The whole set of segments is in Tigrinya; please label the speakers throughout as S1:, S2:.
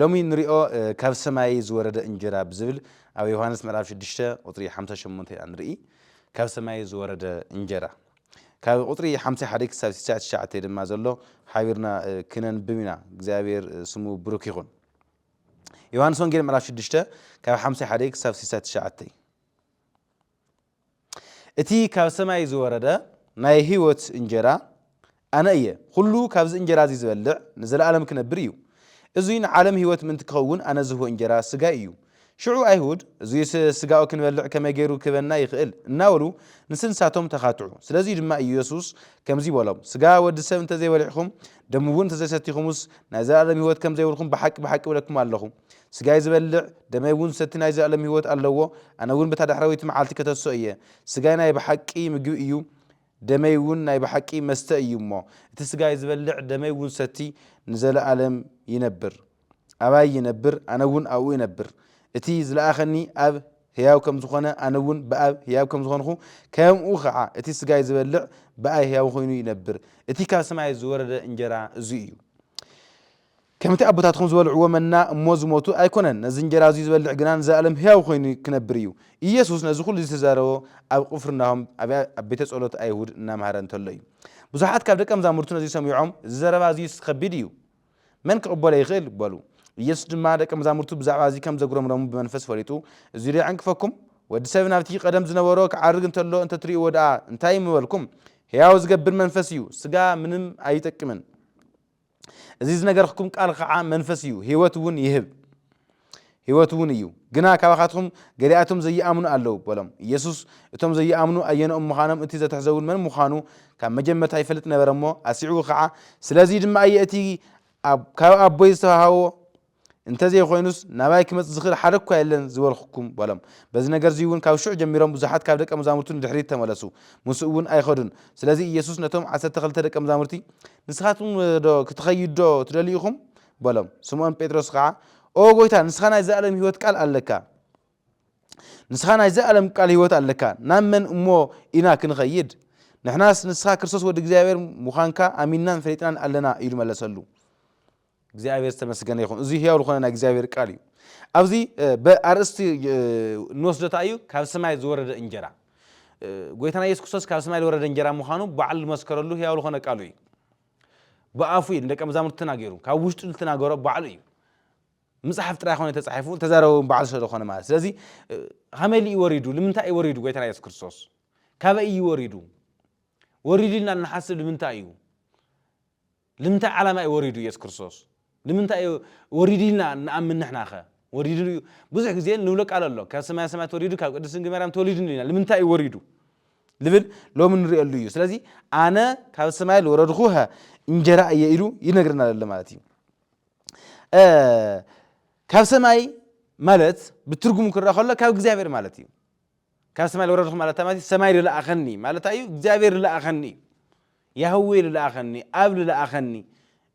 S1: ሎሚ እንሪኦ ካብ ሰማይ ዝወረደ እንጀራ ብዝብል ኣብ ዮሃንስ ምዕራፍ ሽዱሽተ ቁፅሪ ሓምሳ ሸሞንተ ኢና ንርኢ። ካብ ሰማይ ዝወረደ እንጀራ ካብ ቁፅሪ ሓምሳ ሓደ ክሳብ ስሳ ትሽዓተ ድማ ዘሎ ሓቢርና ክነንብብ ኢና። እግዚኣብሔር ስሙ ብሩክ ይኹን። ዮሃንስ ወንጌል ምዕራፍ ሽዱሽተ ካብ ሓምሳ ሓደ ክሳብ ስሳ ትሽዓተ እቲ ካብ ሰማይ ዝወረደ ናይ ህይወት እንጀራ ኣነ እየ። ዅሉ ካብዚ እንጀራ እዚ ዚበልዕ ንዘለኣለም ኪነብር እዩ። እዙይ ንዓለም ህይወት ምእንቲ ኪኸውን ኣነ ዝህቦ እንጀራ ስጋይ እዩ። ሽዑ ኣይሁድ፣ እዙይስ ስጋኡ ክንበልዕ ከመይ ገይሩ ኪህበና ይኽእል? እናበሉ ንስንሳቶም ተኻትዑ። ስለዙይ ድማ እዩ የሱስ ከምዙይ በሎም፣ ስጋ ወዲ ሰብ እንተ ዘይበሊዕኹም፣ ደሙውን እንተ ዘይሰቲኹምስ፣ ናይ ዘለኣለም ህይወት ከም ዘይብልኩም ብሓቂ ብሓቂ እብለኩም ኣለኹ። ስጋይ ዝበልዕ ደመይ እውን ዝሰቲ ናይ ዘለኣለም ህይወት ኣለዎ፣ ኣነ እውን በታ ዳሕረወይቲ መዓልቲ ከተሶ እየ። ስጋይ ናይ ብሓቂ ምግቢ እዩ፣ ደመይ እውን ናይ ብሓቂ መስተ እዩ እሞ፣ እቲ ስጋይ ዝበልዕ ደመይ እውን ዝሰቲ ንዘለኣለም ይነብር። ኣባይ ይነብር፣ ኣነ እውን ኣብኡ እነብር። እቲ ዝለኣኸኒ ኣብ ህያው ከም ዝኾነ፣ ኣነ እውን ብኣብ ህያብ ከም ዝኾንኹ፣ ከምኡ ኸዓ እቲ ስጋይ ዝበልዕ ብኣይ ህያው ኾይኑ ይነብር። እቲ ካብ ሰማይ ዝወረደ እንጀራ እዙይ እዩ። ከምቲ ኣቦታትኩም ዝበልዕዎ መና እሞ ዝሞቱ ኣይኰነን፣ ነዚ እንጀራ እዚ ዚበልዕ ግና ንዘለኣለም ህያው ዀይኑ ኪነብር እዩ። ኢየሱስ ነዚ ዅሉ ዝተዛረቦ ኣብ ቕፍርናሆም ኣብ ቤተ ጸሎት ኣይሁድ እናመሃረ እንተሎ እዩ። ብዙሓት ካብ ደቀ መዛሙርቱ ነዚ ሰሚዖም፣ እዚ ዘረባ እዝስ ኸቢድ እዩ፣ መን ኪቕበሎ ይኽእል? በሉ። ኢየሱስ ድማ ደቀ መዛሙርቱ ብዛዕባ እዚ ኸም ዘጕረምረሙ ብመንፈስ ፈሊጡ፣ እዚዶ የዐንቅፈኩም? ወዲ ሰብ ናብቲ ቐደም ዝነበሮ ኪዓርግ እንተሎ እንተ ትርእይዎ ደኣ እንታይ ምበልኩም? ህያው ዚገብር መንፈስ እዩ፣ ስጋ ምንም ኣይጠቅምን። እዚ ዝነገርክኩም ቃል ኸዓ መንፈስ እዩ ህይወት እውን ይህብ ህይወት እውን እዩ ግና ካባኻትኩም ገሊኣቶም ዘይኣምኑ ኣለዉ በሎም ኢየሱስ እቶም ዘይኣምኑ ኣየነኦም ምዃኖም እቲ ዘትሕዘውን መን ምዃኑ ካብ መጀመርታ ይፈልጥ ነበረ እሞ ኣስዒቡ ኸዓ ስለዙይ ድማ እየ እቲ ካብ ኣቦይ ዝተዋሃቦ እንተዘይኮይኑስ ናባይ ክመጽእ ዝኽእል ሓደ እኳ የለን ዝበልኩኩም በሎም። በዚ ነገርዚ እውን ካብ ሽዑ ጀሚሮም ብዙሓት ካብ ደቀ መዛሙርቱ ንድሕሪት ተመለሱ፣ ምስኡ እውን ኣይኸዱን። ስለዚ ኢየሱስ ነቶም ዓሰርተ ክልተ ደቀ መዛሙርቲ፣ ንስኻትኩምዶ ክትኸይዱዶ ትደልዩ ኢኹም? በሎም። ስምኦን ጴጥሮስ ኸዓ፣ ኦ ጐይታ፣ ንስኻ ናይ ዘለኣለም ህይወት ቃል ኣለካ፣ ንስኻ ናይ ዘለኣለም ቃል ህይወት ኣለካ፣ ናብ መን እሞ ኢና ክንኸይድ? ንሕናስ ንስኻ ክርስቶስ ወዲ እግዚኣብሔር ምዃንካ ኣሚንናን ፈሊጥናን ኣለና ኢሉ መለሰሉ። እግዚኣብሔር ዝተመስገነ ይኹን እዚ ህያው ዝኾነ ናይ እግዚኣብሔር ቃል እዩ ኣብዚ ብኣርእስቲ ንወስዶ እንታይ እዩ ካብ ሰማይ ዝወረደ እንጀራ ጎይታና ኢየሱስ ክርስቶስ ካብ ሰማይ ዝወረደ እንጀራ ምዃኑ ባዕሉ ዝመስከረሉ ህያው ዝኾነ ቃሉ እዩ ብኣፉ እዩ ንደቀ መዛሙርቲ ተናገሩ ካብ ውሽጡ ዝተናገሮ ባዕሉ እዩ ምፅሓፍ ጥራይ ኮነ ተፃሒፉ ተዛረበ በዓል ስለዝኾነ ማለት ስለዚ ከመይ ልዩ ወሪዱ ንምንታይ እዩ ወሪዱ ጎይታና የሱስ ክርስቶስ ካበይ እዩ ወሪዱ ወሪዱ ኢልና ንሓስብ ንምንታይ እዩ ልምንታይ ዓላማ እዩ ወሪዱ ኢየሱስ ክርስቶስ ልምንታይ እዩ ወሪዱ ኢልና ንኣምን ንሕና ከ ወሪዱ እዩ ብዙሕ ግዜ ንብሎ ቃል ኣሎ ካብ ሰማያ ሰማያት ወሪዱ ካብ ቅድስት ድንግል ማርያም ተወሊዱ ንብል ኢና ልምንታይ እዩ ወሪዱ ልብል ሎሚ ንርእየሉ እዩ ስለዚ ኣነ ካብ ሰማይ ልወረድኩ ሀ እንጀራ እየ ኢሉ ይነግረና ዘሎ ማለት እዩ ካብ ሰማይ ማለት ብትርጉሙ ክረኣ ከሎ ካብ እግዚኣብሔር ማለት እዩ ካብ ሰማይ ልወረድኹ ማለት እንታይ ማለት እዩ? ሰማይ ልለኣኸኒ ማለት እንታይ እዩ? እግዚኣብሔር ልለኣኸኒ እዩ። ያህዌ ልለኣኸኒ፣ ኣብ ልለኣኸኒ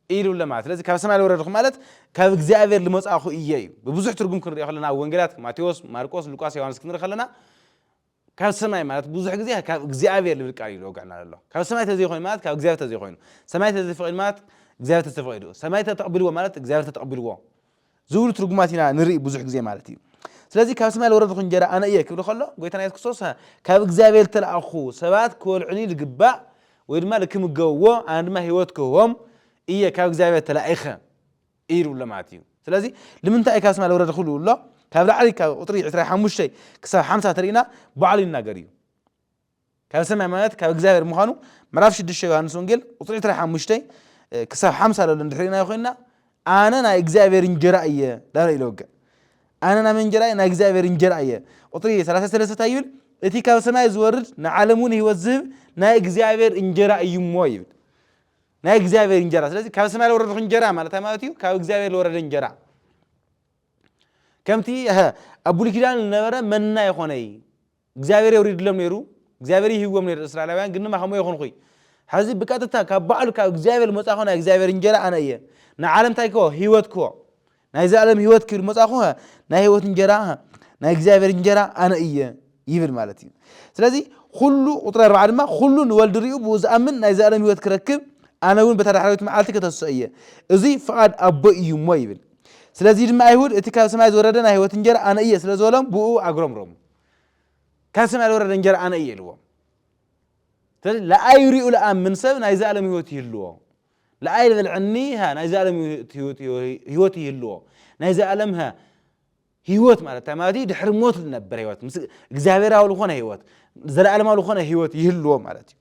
S1: እዩ ልብሎ ማለት ስለዚ ካብ ሰማይ ልወረድኹ ማለት ካብ እግዚኣብሔር ልመጻኹ እየ እዩ። ብብዙሕ ትርጉም ክንሪኦ ከለና ኣብ ወንጌላት ማቴዎስ፣ ማርቆስ፣ ሉቃስ፣ ዮሃንስ ክንርኢ ከለና ካብ ሰማይ ማለት ብዙሕ ግዜ ካብ እግዚኣብሔር ልብል ቃል እዩ ልወግዐና ዘሎ። ካብ ሰማይ ተዘይኮይኑ ማለት ካብ እግዚኣብሔር ተዘይኮይኑ፣ ሰማይ ተዘይተፈቂዱ ማለት እግዚኣብሔር ተዘይተፈቂዱ፣ ሰማይ ተተቐቢልዎ ማለት እግዚኣብሔር ተተቐቢልዎ፣ ዝብሉ ትርጉማት ኢና ንርኢ ብዙሕ ግዜ ማለት እዩ። ስለዚ ካብ ሰማይ ዝወረድኹ እንጀራ ኣነ እየ ክብል ከሎ ጎይታና የሱስ ክርስቶስ ካብ እግዚኣብሔር ዝተላእኩ ሰባት ክበልዑኒ ዝግባእ ወይ ድማ ልክምገብዎ ኣነ ድማ ህይወት ክህቦም እየ ካብ እግዚኣብሔር ተላኢኸ እዩ ዝብሎ ማለት እዩ። ስለዚ ልምንታይ እዩ ካብ ሰማይ ዝወረድኹ ዝብሎ ካብ ላዕሊ ካብ ቁጥሪ ዕስራ ሓሙሽተ ክሳብ ሓምሳ ተሪእና ባዕሉ ይናገር እዩ። ካብ ሰማይ ማለት ካብ እግዚኣብሔር ምዃኑ ምዕራፍ ሽዱሽተ ዮሃንስ ወንጌል ቁፅሪ ዕስራ ሓሙሽተ ክሳብ ሓምሳ ለሎ እንድሕር ኢልናዮ ኮይንና ኣነ ናይ እግዚኣብሔር እንጀራ እየ ዳለ ኢለ ወገ ኣነ ናይ መን እንጀራ እየ ናይ እግዚኣብሔር እንጀራ እየ ቁፅሪ ሰላሳ ሰለስተ እንታይ ይብል እቲ ካብ ሰማይ ዝወርድ ንዓለም እውን ህይወት ዝህብ ናይ እግዚኣብሔር እንጀራ እዩ እሞ ይብል ናይ እግዚኣብሔር እንጀራ ስለዚ ካብ ሰማይ ዝወረድኹ እንጀራ ማለት ማለት እዩ ካብ እግዚኣብሔር ዝወረደ እንጀራ ከምቲ ሀ፣ ኣብ ብሉይ ኪዳን ዝነበረ መና ይኾነ እዩ እግዚኣብሔር የውሪድሎም ነይሩ እግዚኣብሔር ይህዎም ነይሩ እስራኤላውያን ግን ድማ ከምኡ የኹንኹይ ሕዚ ብቀጥታ ካብ ባዕሉ ካብ እግዚኣብሔር መጻኹ ናይ እግዚኣብሔር እንጀራ ኣነ እየ ንዓለም እንታይ ክዎ ህይወት ክዎ ናይ ዘላለም ህይወት ክብል መጻኹ ናይ ህይወት እንጀራ ናይ እግዚኣብሔር እንጀራ ኣነ እየ ይብል ማለት እዩ ስለዚ ኩሉ ቁጥሪ ኣርባዓ ድማ ኩሉ ንወልድ ሪኡ ብኡ ዝኣምን ናይ ዘላለም ህይወት ክረክብ ኣነ እውን በታ ዳሕራዊት መዓልቲ ከተስኦ እየ እዚ ፍቓድ ኣቦ እዩ እሞ ይብል ስለዚ ድማ ኣይሁድ እቲ ካብ ሰማይ ዝወረደ ናይ ህይወት እንጀራ ኣነ እየ ስለ ዝበሎም ብኡ ኣግሮምሮም ካብ ሰማይ ዝወረደ እንጀራ ኣነ እየ ኢልዎም ስለዚ ለኣይ ሪኡ ለኣምን ሰብ ናይ ዘኣለም ህይወት ይህልዎ ለኣይ ልበልዐኒ ሃ ናይ ዘኣለም ህይወት ይህልዎ ናይ ዘኣለም ሃ ህይወት ማለት እንታይ ማለት እዩ ድሕሪ ሞት ዝነበር ህይወት ምስ እግዚኣብሔራዊ ዝኾነ ህይወት ዘለኣለማዊ ዝኾነ ህይወት ይህልዎ ማለት እዩ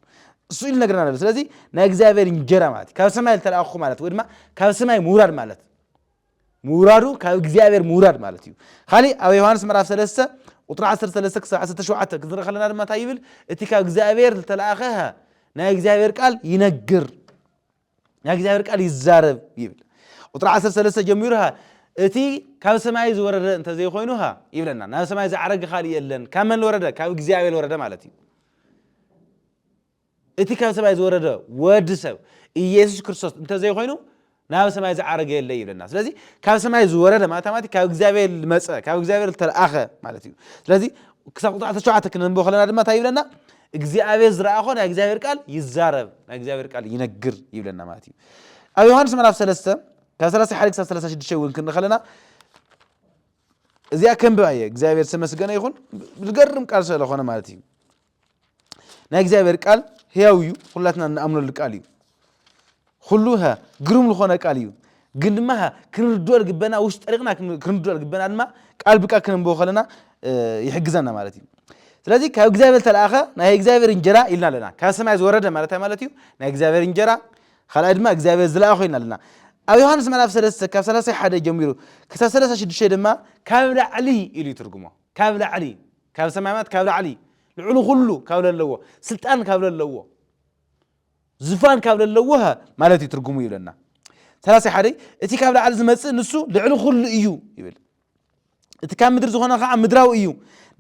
S1: እሱ ኢሉ ነግረና ኣሎ ስለዚ ናይ እግዚኣብሔር እንጀራ ማለት ካብ ሰማይ ዝተላኣኹ ማለት ወይ ድማ ካብ ሰማይ ምውራድ ማለት ምውራዱ ካብ እግዚኣብሔር ምውራድ ማለት እዩ ካሊእ ኣብ ዮሃንስ ምዕራፍ 3 ቁጥሪ 13 ክሳብ 17 ክንርኢ ከለና ድማ እንታይ ይብል እቲ ካብ እግዚኣብሔር ዝተላእኸ ናይ እግዚኣብሔር ቃል ይነግር ናይ እግዚኣብሔር ቃል ይዛረብ ይብል ቁጥሪ 13 ጀሚሩ ሃ እቲ ካብ ሰማይ ዝወረደ እንተዘይኮይኑ ሃ ይብለና ናብ ሰማይ ዝዓረገ ካልእ የለን ካብ መን ወረደ ካብ እግዚኣብሔር ወረደ ማለት እዩ እቲ ካብ ሰማይ ዝወረደ ወዲ ሰብ ኢየሱስ ክርስቶስ እንተዘይኮይኑ ናብ ሰማይ ዝዓረገ የለ ይብለና ስለዚ ካብ ሰማይ ዝወረደ ማለት ማለት ካብ እግዚኣብሔር ዝመፀ ካብ እግዚኣብሔር ዝተለኣኸ ማለት እዩ ስለዚ ክሳብ ቁጥሪ 17 ክነንብቦ ከለና ድማ እንታይ ይብለና እግዚኣብሔር ዝረኣኾ ናይ እግዚኣብሔር ቃል ይዛረብ ናይ እግዚኣብሔር ቃል ይነግር ይብለና ማለት እዩ ኣብ ዮሃንስ ምዕራፍ 3 ካብ 31 ክሳብ 36 እውን ክንርኢ ከለና እዚኣ ከንብብ ኣየ እግዚኣብሔር ዝተመስገነ ይኹን ዝገርም ቃል ስለኾነ ማለት እዩ ናይ እግዚኣብሔር ቃል ህያው እዩ ኩላትና እንኣምነሉ ቃል እዩ ኩሉ ግሩም ዝኾነ ቃል እዩ ግን ድማ ክንርድኦ ልግበና ውሽጢ ጠሪቕና ክንርድኦ ልግበና ድማ ቃል ብቃል ክንንብቦ ከለና ይሕግዘና ማለት እዩ ስለዚ ካብ እግዚኣብሔር ተለኣኸ ናይ እግዚኣብሔር እንጀራ ኢልና ኣለና ካብ ሰማይ ዝወረደ ማለት ማለት እዩ ናይ እግዚኣብሔር እንጀራ ካልኣይ ድማ እግዚኣብሔር ዝለኣኾ ኢልና ኣለና ኣብ ዮሃንስ ምዕራፍ ሰለስተ ካብ ሰላሳ ሓደ ጀሚሩ ክሳብ ሰላሳ ሽዱሽተ ድማ ካብ ላዕሊ ኢሉ ይትርጉሞ ካብ ላዕሊ ካብ ሰማይ ማለት ካብ ላዕሊ ልዕሉ ኩሉ ካብ ለለዎ ስልጣን ካብ ለለዎ ዝፋን ካብ ለለዎ ማለት እዩ ትርጉሙ ይብለና ሰላሳ ሓደይ እቲ ካብ ላዕሊ ዝመፅእ ንሱ ልዕሊ ኩሉ እዩ ይብል እቲ ካብ ምድሪ ዝኾነ ከዓ ምድራዊ እዩ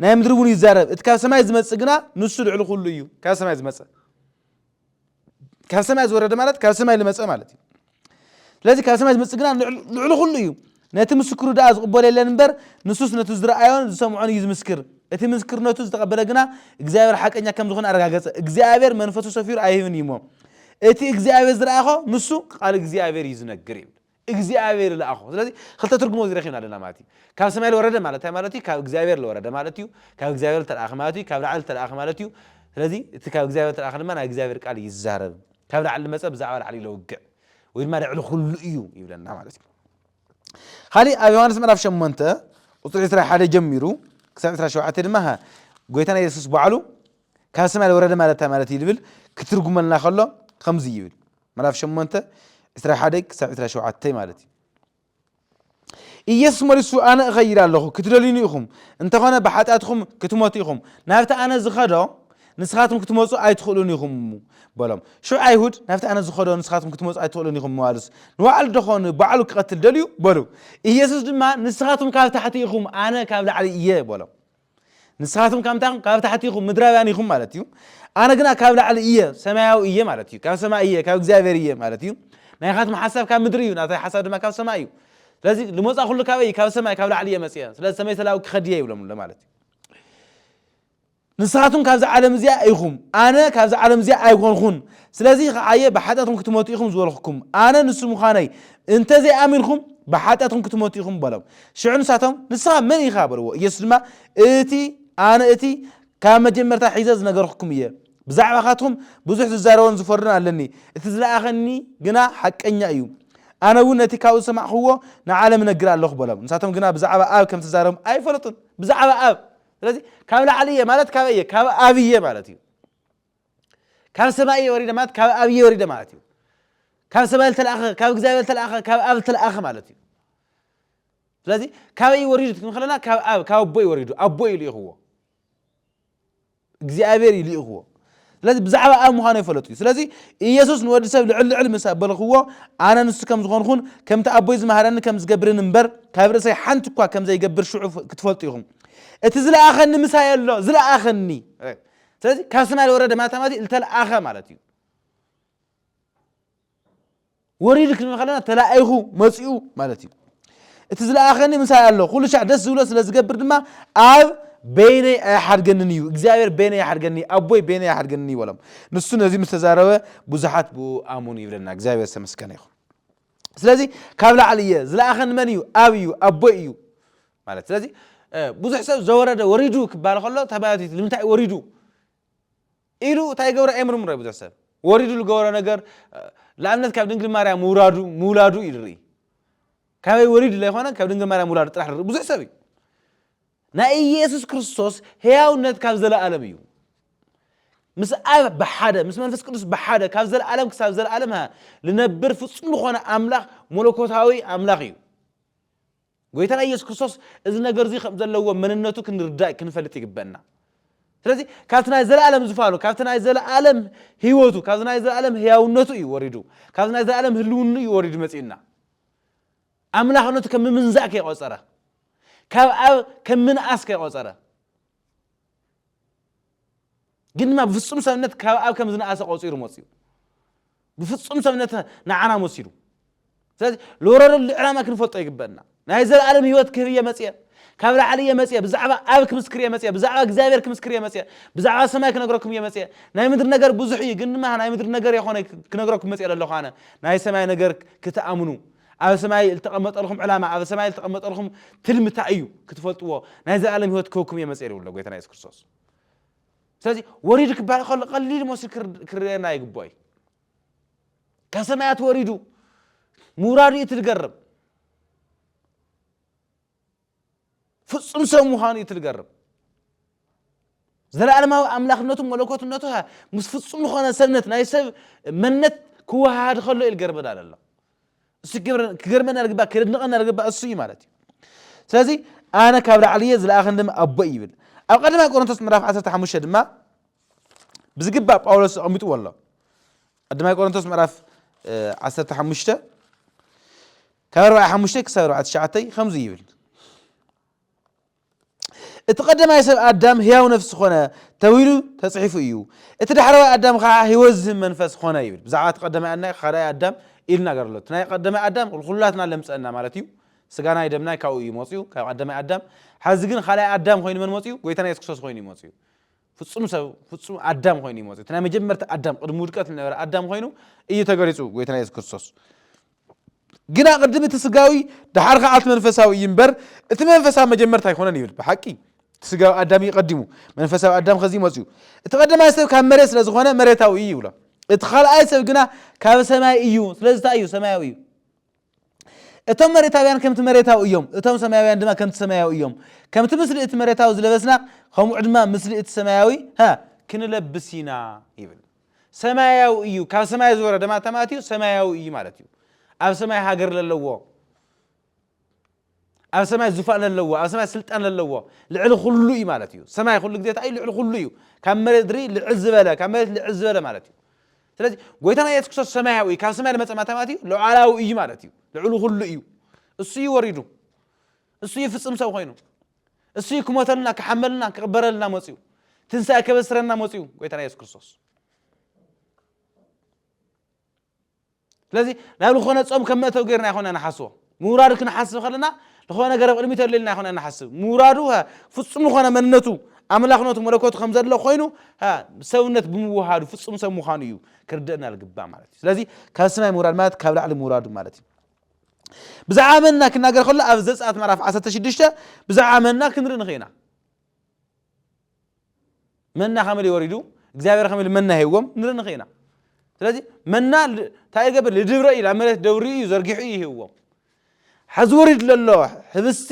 S1: ናይ ምድሪ እውን ይዛረብ እቲ ካብ ሰማይ ዝመፅእ ግና ንሱ ልዕሊ ኩሉ እዩ ካብ ሰማይ ዝመፅእ ካብ ሰማይ ዝወረደ ማለት ካብ ሰማይ ዝመፀ ማለት እዩ ስለዚ ካብ ሰማይ ዝመፅእ ግና ልዕሊ ኩሉ እዩ ነቲ ምስክሩ ድኣ ዝቕበሎ የለን እምበር ንሱስ ነቲ ዝረኣዮን ዝሰምዖን እዩ ዝምስክር እቲ ምስክርነቱ ዝተቐበለ ግና እግዚኣብሔር ሓቀኛ ከም ዝኾነ ኣረጋገፀ እግዚኣብሔር መንፈሱ ሰፊሩ ኣይህብን እዩ እሞ እቲ እግዚኣብሔር ዝረኣኾ ንሱ ቃል እግዚኣብሔር እዩ ዝነግር ይብል እግዚኣብሔር ዝለኣኾ ስለዚ ክልተ ትርጉም ኣብዚ ረኪብና ኣለና ማለት እዩ ካብ ሰማይ ዝወረደ ማለት እንታይ ማለት እዩ ካብ እግዚኣብሔር ዝወረደ ማለት እዩ ካብ እግዚኣብሔር ዝተለኣኸ ማለት እዩ ካብ ላዕሊ ዝተለኣኸ ማለት እዩ ስለዚ እቲ ካብ እግዚኣብሔር ዝተለኣኸ ድማ ናይ እግዚኣብሔር ቃል እዩ ዝዛረብ ካብ ላዕሊ ዝመፀ ብዛዕባ ላዕሊ ለውግዕ ወይ ድማ ልዕሊ ኩሉ እዩ ይብለና ማለት እዩ ካሊእ ኣብ ዮሃንስ ምዕራፍ ሸሞንተ ቁፅሪ ዕስራ ሓደ ጀሚሩ ክሳብ ዕስራ ሸውዓተ ድማ ሃ ጎይታና የሱስ በዓሉ ካብ ሰማይ ዝወረደ ማለት እንታይ ማለት እዩ ዝብል ክትርጉመልና ከሎ ከምዚ ይብል ምዕራፍ ሸሞንተ ዕስራ ሓደ ክሳብ ዕስራ ሸውዓተ ማለት እዩ ኢየሱስ መሊሱ ኣነ እኸይድ ኣለኹ ክትደልዩኒ ኢኹም እንተኾነ ብሓጢኣትኹም ክትሞቱ ኢኹም ናብቲ ኣነ ዝኸዶ ንስኻትኩም ክትመፁ ኣይትኽእሉን ኢኹም እሙ በሎም ሽዑ ኣይሁድ ናብቲ ኣነ ዝኸዶ ንስኻትኩም ክትመፁ ኣይትኽእሉን ኢኹም ምባሉስ ንባዕሉ ደኾን ባዕሉ ክቐትል ደልዩ በሉ ኢየሱስ ድማ ንስኻትኩም ካብ ታሕቲ ኢኹም ኣነ ካብ ላዕሊ እየ በሎም ንስኻትኩም ካብ ምንታይ ኢኹም? ካብ ታሕቲ ኢኹም፣ ምድራውያን ኢኹም ማለት እዩ። ኣነ ግና ካብ ላዕሊ እየ፣ ሰማያዊ እየ ማለት እዩ። ካብ ሰማይ እየ፣ ካብ እግዚኣብሔር እየ ማለት እዩ። ናይኻትኩም ሓሳብ ካብ ምድሪ እዩ፣ ናተይ ሓሳብ ድማ ካብ ሰማይ እዩ። ስለዚ ልመፃ ኩሉ ካበይ እዩ? ካብ ሰማይ፣ ካብ ላዕሊ እየ መፅየ። ስለዚ ሰመይ ሰላዊ ክኸድ እየ ይብሎም ኣሎ ማለት እዩ። ንስኻትኩም ካብዚ ዓለም እዚኣ ኢኹም፣ ኣነ ካብዚ ዓለም እዚኣ ኣይኮንኹን። ስለዚ ከዓ እየ ብሓጢኣትኩም ክትመቱ ኢኹም ዝበልኹኩም። ኣነ ንሱ ምዃነይ እንተዘይኣሚንኩም ብሓጢኣትኩም ክትመቱ ኢኹም በሎም። ሽዑ ንሳቶም፣ ንስኻ መን ኢኻ? በልዎ። ኢየሱስ ድማ፣ እቲ ኣነ እቲ ካብ መጀመርታ ሒዘ ዝነገርኹኩም እየ። ብዛዕባኻትኩም ብዙሕ ዝዛረቦን ዝፈርዶን ኣለኒ፣ እቲ ዝለኣኸኒ ግና ሓቀኛ እዩ። ኣነ እውን ነቲ ካብኡ ዝሰማዕኩዎ ንዓለም እነግር ኣለኹ በሎም። ንሳቶም ግና ብዛዕባ ኣብ ከም እተዛረቦም ኣይፈለጡን። ብዛዕባ ኣብ ስለዚ ካብ ላዕሊ እየ ማለት ካበይ እየ? ካብ ኣብ እየ ማለት እዩ። ካብ ሰማይ እየ ወሪደ ማለት ካብ ኣብ እየ ወሪደ ማለት እዩ ካብ ሰማይ ዝተለኣኸ ካብ እግዚኣብሔር ዝተለኣኸ ካብ ኣብ ዝተለኣኸ ማለት እዩ ስለዚ ካበይ እዩ ወሪዱ ትክም ከለና ካብ ኣብ ካብ ኣቦ እዩ ወሪዱ ኣቦ እዩ ልኢኽዎ እግዚኣብሔር እዩ ልኢኽዎ ስለዚ ብዛዕባ ኣብ ምዃኑ ይፈለጡ እዩ ስለዚ ኢየሱስ ንወዲ ሰብ ልዕል ልዕል ምስ ኣበልኽዎ ኣነ ንሱ ከም ዝኾንኹን ከምቲ ኣቦይ ዝመሃረኒ ከም ዝገብርን እምበር ካብ ርእሰይ ሓንቲ እኳ ከም ዘይገብር ሽዑ ክትፈልጡ ኢኹም እቲ ዝለኣኸኒ ምሳይ ኣሎ ዝለኣኸኒ ስለዚ ካብ ሰማይ ዝወረደ ማተ ማለት እዩ ዝተለኣኸ ማለት እዩ ወሪዱ ክንብል ከለና ተላኢኹ መፂኡ ማለት እዩ እቲ ዝለኣኸኒ ምሳይ ኣሎ ኩሉ ሻዕ ደስ ዝብሎ ስለ ዝገብር ድማ ኣብ በይነይ ኣይሓድገንን እዩ እግዚኣብሔር በይነይ ኣይሓድገኒ ኣቦይ በይነይ ኣይሓድገኒ ይበሎም ንሱ ነዚ ምስ ተዛረበ ብዙሓት ብኡ ኣሙን ይብለና እግዚኣብሔር ዝተመስገነ ይኹን ስለዚ ካብ ላዕሊ እየ ዝለኣኸኒ መን እዩ ኣብ እዩ ኣቦይ እዩ ማለት ስለዚ ብዙሕ ሰብ ዘወረደ ወሪዱ ክባል ከሎ ተባዮቲት ንምንታይ ወሪዱ ኢሉ እንታይ ገብረ ኣይምርምሮ ብዙሕ ሰብ ወሪዱ ዝገበሮ ነገር ንኣብነት ካብ ድንግል ማርያ ምውራዱ ምውላዱ እዩ ዝርኢ ካበይ ወሪዱ ዘይኮነ ካብ ድንግል ማርያ ምውላዱ ጥራሕ ዝርኢ ብዙሕ ሰብ እዩ ናይ ኢየሱስ ክርስቶስ ሕያውነት ካብ ዘለዓለም እዩ። ምስ ኣብ ብሓደ ምስ መንፈስ ቅዱስ ብሓደ ካብ ዘለዓለም ክሳብ ዘለዓለም ሃ ልነብር ፍጹም ዝኾነ ኣምላኽ መለኮታዊ ኣምላኽ እዩ። ጎይታና ኢየሱስ ክርስቶስ እዚ ነገር እዚ ከም ዘለዎ መንነቱ ክንርዳእ ክንፈልጥ ይግበና። ስለዚ ካብቲ ናይ ዘለዓለም ዝፋኑ ካብቲ ናይ ዘለዓለም ህይወቱ ካብዚ ናይ ዘለዓለም ህያውነቱ እዩ ወሪዱ ካብዚ ናይ ዘለዓለም ህልውኑ እዩ ወሪዱ መጺኡና። ኣምላኽ ነቲ ከም ምምንዛእ ከይቖጸረ፣ ካብ ኣብ ከም ምንኣስ ከይቖጸረ፣ ግን ድማ ብፍጹም ሰብነት ካብ ኣብ ከም ዝነኣሰ ቆጺሩ መጽዩ። ብፍጹም ሰብነት ንዓና መሲሉ። ስለዚ ልወረደሉ ዕላማ ክንፈልጦ ይግበእና። ናይ ዘለኣለም ህይወት ክህብ እየ መጽየ፣ ካብ ላዕሊ እየ መጽየ፣ ብዛዕባ ኣብ ክምስክር እየ መጽየ፣ ብዛዕባ እግዚኣብሔር ክምስክር እየ መጽየ፣ ብዛዕባ ሰማይ ክነግረኩም እየ መጽየ። ናይ ምድሪ ነገር ብዙሕ እዩ፣ ግን ድማ ናይ ምድሪ ነገር የኾነይ ክነግረኩም መጽየ ለለኹ ኣነ፣ ናይ ሰማይ ነገር ክትኣምኑ። ኣብ ሰማይ ልተቀመጠልኹም ዕላማ ኣብ ሰማይ ልተቀመጠልኹም ትልሚ ታይ እዩ ክትፈልጥዎ ናይ ዘላለም ህይወት ክህብኩም እየ መፅኤ ይብሎ ጎይታና የሱስ ክርስቶስ ስለዚ ወሪዱ ክበሃል ከሎ ቀሊል መስሉ ክርኤና ይግብኦ እዩ ካብ ሰማያት ወሪዱ ምውራዱ እዩ እቲ ዝገርም ፍጹም ሰብ ምዃኑ እዩ እቲ ዝገርም። ዘለኣለማዊ ኣምላኽነቱን መለኮትነቱ ኸኣ ምስ ፍጹም ዝኾነ ሰብነት ናይ ሰብ መንነት ክወሃሃድ ከሎ እዩ ዝገርመና ዘሎ። እሱ ክገርመና ዝግባእ ክድንቐና ዝግባእ እሱ እዩ ማለት እዩ። ስለዚ ኣነ ካብ ላዕሊ እየ ዝለኣኸኒ ድማ ኣቦ ይብል። ኣብ ቀዳማይ ቆሮንቶስ ምዕራፍ 15 ድማ ብዝግባእ ጳውሎስ ኣቐሚጥዎ ኣሎ። ቀዳማይ ቆሮንቶስ ምዕራፍ 15 ካብ ኣርባዕይ ሓሙሽተይ ክሳብ ኣርባዕይ ትሽዓተይ ከምዚ ይብል፣ እቲ ቀደማይ ሰብ ኣዳም ህያው ነፍሲ ኮነ ተብሂሉ ተጽሒፉ እዩ፣ እቲ ዳሕረዋይ ኣዳም ከኣ ህይወት ዝህብ መንፈስ ኮነ ይብል። ብዛዕባ እቲ ቀደማይ ኣናይ ኻልኣይ ኣዳም ኢሉ ይናገር ኣሎ። እቲ ናይ ቀደማይ ኣዳም ንኹላትና ለምጸና ማለት እዩ። ስጋናይ ደምናይ ካብኡ እዩ መጽኡ ካብ ቀደማይ ኣዳም። ሐዚ ግን ኻልኣይ ኣዳም ኮይኑ መን መጽኡ? ጎይታና የሱስ ክርስቶስ ኮይኑ እዩ መጽኡ። ፍጹም ሰብ ፍጹም ኣዳም ኮይኑ እዩ መጽኡ። እቲ ናይ መጀመርታ ኣዳም ቅድሚ ውድቀት ዝነበረ ኣዳም ኮይኑ እዩ ተገሊጹ ጎይታና የሱስ ክርስቶስ። ግና ቅድም እቲ ስጋዊ ደሓር ኸዓ እቲ መንፈሳዊ እዩ እምበር እቲ መንፈሳዊ መጀመርታ ኣይኮነን ይብል ብሓቂ እቲ ስጋዊ ኣዳም እዩ ቀዲሙ መንፈሳዊ ኣዳም ከዚ መፅኡ እቲ ቀደማይ ሰብ ካብ መሬት ስለ ዝኾነ መሬታዊ እዩ ይብሎ እቲ ካልኣይ ሰብ ግና ካብ ሰማይ እዩ ስለዚ እንታይ እዩ ሰማያዊ እዩ እቶም መሬታውያን ከምቲ መሬታዊ እዮም እቶም ሰማያውያን ድማ ከምቲ ሰማያዊ እዮም ከምቲ ምስሊ እቲ መሬታዊ ዝለበስና ከምኡ ድማ ምስሊ እቲ ሰማያዊ ሀ ክንለብስ ኢና ይብል ሰማያዊ እዩ ካብ ሰማይ ዝወረደ ማለት ማለት እዩ ሰማያዊ እዩ ማለት እዩ ኣብ ሰማይ ሃገር ለለዎ ኣብ ሰማይ ዙፋን ለለዎ ኣብ ሰማይ ስልጣን ለለዎ ልዕሊ ኩሉ እዩ ማለት እዩ ሰማይ ኩሉ ግዜ እንታይ እዩ ልዕሊ ኩሉ እዩ ካብ መሬት ድሪ ልዕል ዝበለ ካብ መሬት ልዕል ዝበለ ማለት እዩ ስለዚ ጎይታና የሱስ ክርስቶስ ሰማያዊ እዩ ካብ ሰማይ ዝመፀ ማለት እዩ ሉዓላዊ እዩ ማለት እዩ ልዕሊ ኩሉ እዩ እሱ እዩ ወሪዱ እሱ እዩ ፍፅም ሰብ ኮይኑ እሱዩ ክሞተልና ክሓመልና ክቕበረልና መፅኡ ትንሳኤ ከበስረና መፅኡ ጎይታና የሱስ ክርስቶስ ስለዚ ናብ ዝኾነ ፆም ከም መእተው ገርና ይኮነ ንሓስቦ ምውራዱ ክንሓስብ ከለና ዝኾነ ነገር ኣብ ቅድሚት ኣለልና ይኮነ ንሓስብ ምውራዱ ፍፁም ዝኾነ መንነቱ ኣምላኽነቱ መለኮቱ ከም ዘሎ ኮይኑ ሰብነት ብምውሃዱ ፍፁም ሰብ ምዃኑ እዩ ክርደአና ልግባእ ማለት እዩ ስለዚ ካብ ሰማይ ምውራድ ማለት ካብ ላዕሊ ምውራዱ ማለት እዩ ብዛዕባ መና ክናገር ከሎ ኣብ ዘጸኣት ምዕራፍ ዓሰርተ ሽዱሽተ ብዛዕባ መና ክንርኢ ንኽእል ኢና መና ከመይ ኢሉ ወሪዱ እግዚኣብሔር ከመይ ኢሉ መና ሂብዎም ንርኢ ንኽእል ኢና ስለዚ መና እንታይ ይገብር ልድብረ እዩ ናብ መሬት ደብሪ እዩ ዘርጊሑ እዩ ሂብዎም ሕዚ ወሪድ ለሎ ህብስቲ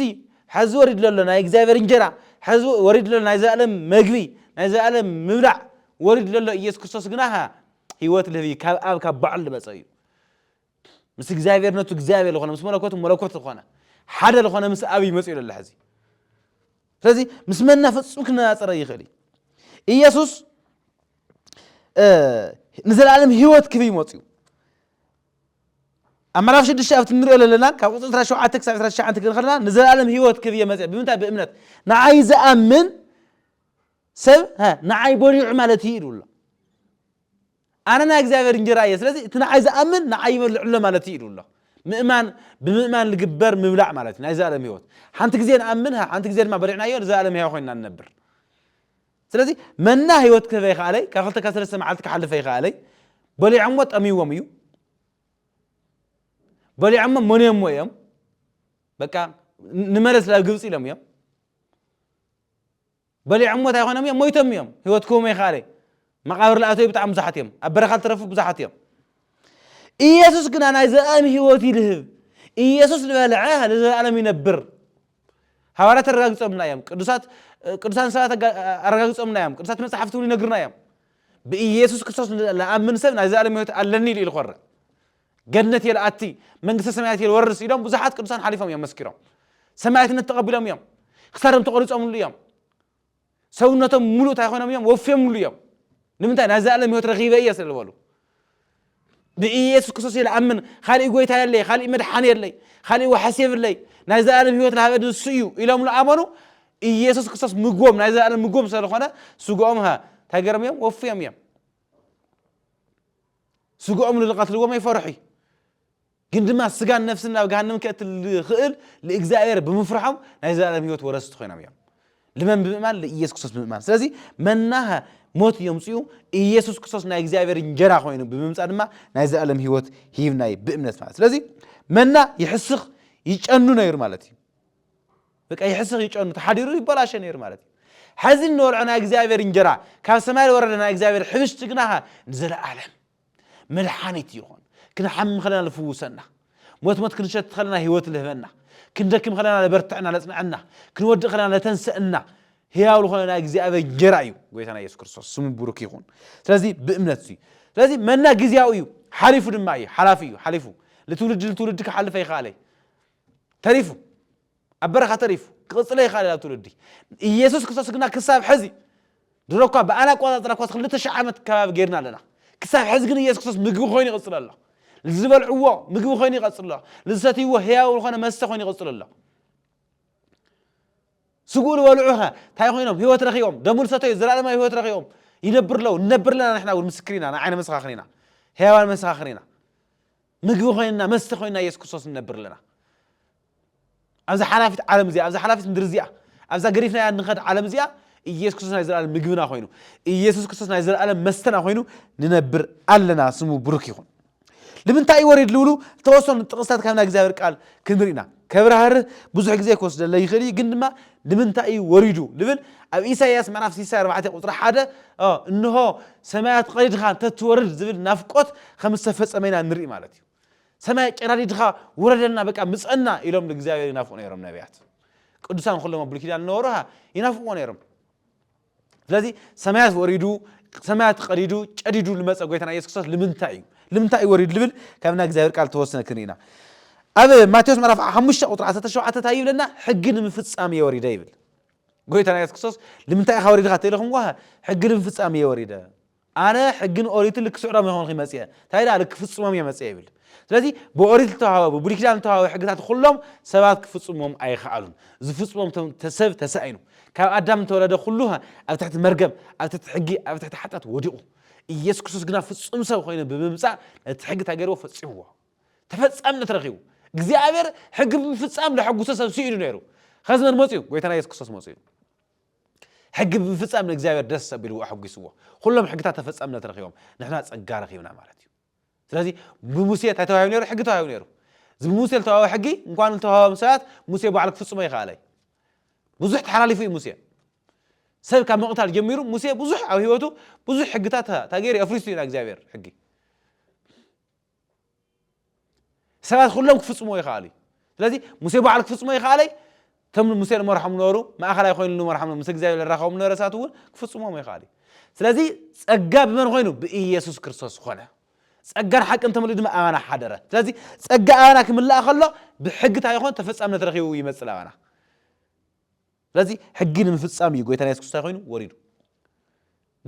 S1: ሕዚ ወሪድ ለሎ ናይ እግዚኣብሔር እንጀራ ሕዚ ወሪድ ለሎ ናይ ዘኣለም መግቢ ናይ ዘኣለም ምብላዕ ወሪድ ለሎ ኢየሱስ ክርስቶስ ግና ህይወት ልህብ እዩ ካብ ኣብ ካብ ባዕሉ ዝመፀ እዩ ምስ እግዚኣብሔር ነቱ እግዚኣብሔር ዝኾነ ምስ መለኮቱ መለኮት ዝኾነ ሓደ ዝኾነ ምስ ኣብ ይመፅ ኢሉ ኣሎ ሕዚ ስለዚ ምስ መና ፍፁም ክነፃፀረ ይኽእል እዩ ኢየሱስ ንዘለኣለም ህይወት ክብ ይመፅ እዩ ኣብ ምዕራፍ ሽዱሽተ ኣብቲ ንሪኦ ዘለና ካብ ቁፅሪ ዕስራ ሸውዓተ ክሳብ ዕስራ ትሽዓተ ክንኸልና ንዘለኣለም ህይወት ክብ እየ መፅአ ብምንታይ ብእምነት ንዓይ ዝኣምን ሰብ ንዓይ በሊዑ ማለት እዩ ኢሉ ኣሎ ኣነ ናይ እግዚኣብሔር እንጀራ እየ ስለዚ እቲ ንዓይ ዝኣምን ንዓይ ይበልዕ ኣሎ ማለት እዩ ኢሉ ኣሎ። ምእማን ብምእማን ልግበር ምብላዕ ማለት እዩ ናይ ዘላለም ሕይወት ሓንቲ ግዜ ንኣምን ሓንቲ ግዜ ድማ በሊዕናዮ ንዘላለም ሕያው ኮይንና ንነብር ስለዚ መና ሕይወት ክህበ ይኸኣለይ ካብ ክልተ ካብ ሰለስተ መዓልቲ ክሓልፈ ይኸኣለይ በሊዖሞ ጠምይዎም እዩ በሊዖሞ መንዮሞ እዮም በቃ ንመለስ ናብ ግብፂ ኢሎም እዮም በሊዖሞ ታይ ኮይኖም እዮም ሞይቶም እዮም ሂወት ክህቦም ኣይክኣለ መቃብር ልኣተዉ ብጣዕሚ ብዙሓት እዮም ኣብ በረኻ ልተረፉ ብዙሓት እዮም ኢየሱስ ግና ናይ ዘላለም ሂወት እዩ ልህብ ኢየሱስ ልበልዐ ልዘላለም ይነብር ሃዋርያት ኣረጋጊጾምልና እዮም ቅዱሳት ቅዱሳን ሰባት ኣረጋጊጾምልና እዮም ቅዱሳት መጽሓፍቲ እውን ይነግሩና እዮም ብኢየሱስ ክርስቶስ ልኣምን ሰብ ናይ ዘላለም ሂወት ኣለኒ ኢሉ ኢሉ ኮረ ገነት እየ ልኣቲ፣ መንግስተ ሰማያት እየ ልወርስ ኢሎም ብዙሓት ቅዱሳን ሓሊፎም እዮም መስኪሮም። ሰማያትነት ተቐቢሎም እዮም። ክሳዶም ተቖሪጾምሉ እዮም። ሰውነቶም ሙሉእ እንታይ ኮይኖም እዮም? ወፍዮምሉ እዮም። ንምንታይ? ናይ ዘለኣለም ህይወት ረኺበ እየ ስለ ዝበሉ ንኢየሱስ ክርስቶስ እየ ልኣምን፣ ካልእ ጎይታ የለይ፣ ካልእ መድሓኒ የለይ፣ ካልእ ዋሕስ የብለይ፣ ናይ ዘለኣለም ህይወት ልሃበ ንሱ እዩ ኢሎም ልኣመኑ ኢየሱስ ክርስቶስ ምግቦም ናይ ዘለኣለም ምግቦም ስለ ዝኾነ ስግኦም እንታይ ገይሮም እዮም? ወፍዮም እዮም። ስግኦም ንልቐትልዎም ይፈርሑ እዩ። ግን ድማ ስጋን ነፍስን ናብ ገሃንም ከእቲ ልኽእል ልእግዚኣብሔር ብምፍርሖም ናይ ዘላለም ህይወት ወረስቲ ኮይኖም እዮም። ልመን ብምእማን ልኢየሱስ ክርስቶስ ብምእማን ስለዚ መናኸ ሞት የምፅኡ ኢየሱስ ክርስቶስ ናይ እግዚኣብሔር እንጀራ ኮይኑ ብምምፃእ ድማ ናይ ዘላለም ህይወት ሂብናይ ብእምነት ማለት ስለዚ መና ይሕስኽ ይጨኑ ነይሩ ማለት እዩ በቃ ይሕስኽ ይጨኑ ተሓዲሩ ይበላሸ ነይሩ ማለት እዩ ሐዚ እንበልዖ ናይ እግዚኣብሔር እንጀራ ካብ ሰማይ ዝወረደ ናይ እግዚኣብሔር ሕብሽቲ ግና ኸ ንዘለኣለም መድሓኒት ይኾን ክንሓሚ ከለና ዝፍውሰና ሞት ሞት ክንሸት ከለና ህይወት ልህበና ክንደክም ከለና ለበርትዐና ለጽንዐና ክንወድእ ከለና ለተንሰእና ህያው ዝኾነ ናይ እግዚኣብሔር እንጀራ እዩ ጎይታና ኢየሱስ ክርስቶስ ስሙ ብሩክ ይኹን ስለዚ ብእምነት እዩ ስለዚ መና ግዜያዊ እዩ ሓሊፉ ድማ እዩ ሓላፊ እዩ ሓሊፉ ልትውልዲ ልትውልዲ ክሓልፈ ይኸኣለ ተሪፉ ኣብ በረኻ ተሪፉ ክቕጽለ ይኻእል ኣብ ትውልዲ ኢየሱስ ክርስቶስ ግና ክሳብ ሕዚ ድሮ እኳ ብኣና ኣቆጻጽራ እኳ ክልተ ሽሕ ዓመት ከባቢ ጌርና ኣለና ክሳብ ሕዚ ግን ኢየሱስ ክርስቶስ ምግቢ ኮይኑ ይቕጽል ኣሎ ዝበልዕዎ ምግቢ ኮይኑ ይቐጽል ኣሎ ዝሰትይዎ ህያው ዝኾነ መስተ ኮይኑ ይቕጽል ኣሎ ስግኡ ዝበልዑ ኸ እንታይ ኮይኖም ህይወት ረኺቦም ደሙ ዝሰተዩ ዘላለማዊ ህይወት ረኺቦም ይነብር ኣለዉ ንነብር ኣለና ንሕና እውን ምስክር ኢና ንዓይነ መሰኻኽር ኢና ህያዋን መሰኻኽር ኢና ምግቢ ኮይንና መስተ ኮይንና ኢየሱስ ክርስቶስ ንነብር ኣለና ኣብዛ ሓላፊት ዓለም እዚኣ ኣብዛ ሓላፊት ምድሪ እዚኣ ኣብዛ ገሪፍናያ ንኸድ ዓለም እዚኣ ኢየሱስ ክርስቶስ ናይ ዘለኣለም ምግብና ኮይኑ ኢየሱስ ክርስቶስ ናይ ዘለኣለም መስተና ኮይኑ ንነብር ኣለና ስሙ ብሩክ ይኹን ልምንታይ ወሪድ ልብሉ ተወሰኑ ጥቕስታት ካብ ናይ እግዚኣብሔር ቃል ክንርኢና ከብራህርህ ብዙሕ ግዜ ክወስደለ ይኽእል እዩ ግን ድማ ንምንታይ እዩ ወሪዱ ልብል ኣብ ኢሳይያስ ምዕራፍ ሲሳ ኣርባዕተ ቁጽሪ ሓደ እንሆ ሰማያት ቐሪድኻ እንተ ትወርድ ዝብል ናፍቆት ከም ዝተፈጸመ ኢና ንርኢ ማለት እዩ። ሰማይ ጨራሪድኻ ውረደልና በቃ ምጸና ኢሎም ንእግዚኣብሔር ይናፍቁ ነይሮም ነቢያት ቅዱሳን ኩሎም ኣብ ብሉይ ኪዳን ዝነበሩ ይናፍቅዎ ነይሮም። ስለዚ ሰማያት ወሪዱ ሰማያት ቀዲዱ ጨዲዱ ልመፀ ጎይታና ኢየሱስ ክርስቶስ ልምንታይ እዩ ልምንታይ እዩ ወሪዱ ልብል ካብ ናይ እግዚኣብሔር ቃል ተወስነ ክንርኢ ኢና ኣብ ማቴዎስ ምዕራፍ ሓሙሽተ ቁጥሪ ዓሰርተ ሸውዓተ እንታይ ይብለና ሕጊ ንምፍፃም እየ ወሪደ ይብል ጎይታና ኢየሱስ ክርስቶስ ልምንታይ ኢኻ ወሪድኻ ተኢልኹም ጓ ሕጊ ንምፍፃም እየ ወሪደ ኣነ ሕግን ኦሪትን ልክስዕሮም ይኾንኺ መጽየ ታይ ደኣ ልክፍጽሞም እየ መጽየ ይብል ስለዚ ብኦሪት ልተዋህበ ብብሉይ ኪዳን ልተዋህበ ሕግታት ኩሎም ሰባት ክፍጽሞም ኣይኸኣሉን ዝፍጽሞም ሰብ ተሳኢኑ ካብ ኣዳም እንተወለደ ኩሉ ኣብ ትሕቲ መርገም ኣብ ትሕቲ ሕጊ ኣብ ትሕቲ ሓጢኣት ወዲቑ ኢየሱስ ክርስቶስ ግና ፍጹም ሰብ ኮይኑ ብምምጻእ ነቲ ሕጊ እንታይ ገይርዎ ፈጺምዎ ተፈጻምነት ረኺቡ እግዚኣብሔር ሕጊ ብምፍጻም ለሐጉሶ ሰብ ስኢኑ ነይሩ ኸዚ መን መፅኡ ጎይታና ኢየሱስ ክርስቶስ መፅኡ ሕጊ ብምፍጻም ንእግዚኣብሔር ደስ ኣቢልዎ ኣሐጒስዎ ኹሎም ሕግታት ተፈጻምነት ረኺቦም ንሕና ጸጋ ረኺብና ማለት እዩ ስለዚ ብሙሴ እንታይ ተዋሂቡ ነይሩ ሕጊ ተዋሂቡ ነይሩ እዚ ብሙሴ ዝተዋህበ ሕጊ እንኳን ዝተዋህበም ሰባት ሙሴ ባዕሉ ክፍጽሞ ይኸኣለ እዩ ብዙሕ ተሓላሊፉ እዩ ሙሴ ሰብ ካብ ምቕታል ጀሚሩ ሙሴ ብዙሕ ኣብ ህይወቱ ብዙሕ ሕግታት ታገይሩ ኣፍሪሱ ኢና እግዚኣብሔር ሕጊ ሰባት ኩሎም ክፍጽምዎ ይኸኣሉ እዩ። ስለዚ ሙሴ ባዕሉ ክፍጽሞ ይኸኣለይ እቶም ሙሴ ንመርሖም ነበሩ ማእኸላይ ኮይኑ ንመርሖም ምስ እግዚኣብሔር ለራኸቦም ነበረ ሰባት እውን ክፍጽሞም ይኸኣሉ እዩ። ስለዚ ጸጋ ብመን ኮይኑ ብኢየሱስ ክርስቶስ ኮነ። ጸጋን ሓቅን ተመልኡ ድማ ኣባና ሓደረ። ስለዚ ጸጋ ኣባና ክምላእ ከሎ ብሕግታ ይኾን ተፈጻምነት ረኺቡ ይመጽእ ኣባና። ስለዚ ሕጊ ንምፍጻም እዩ ጎይታና የሱስ ክርስቶስ እንታይ ኮይኑ ወሪዱ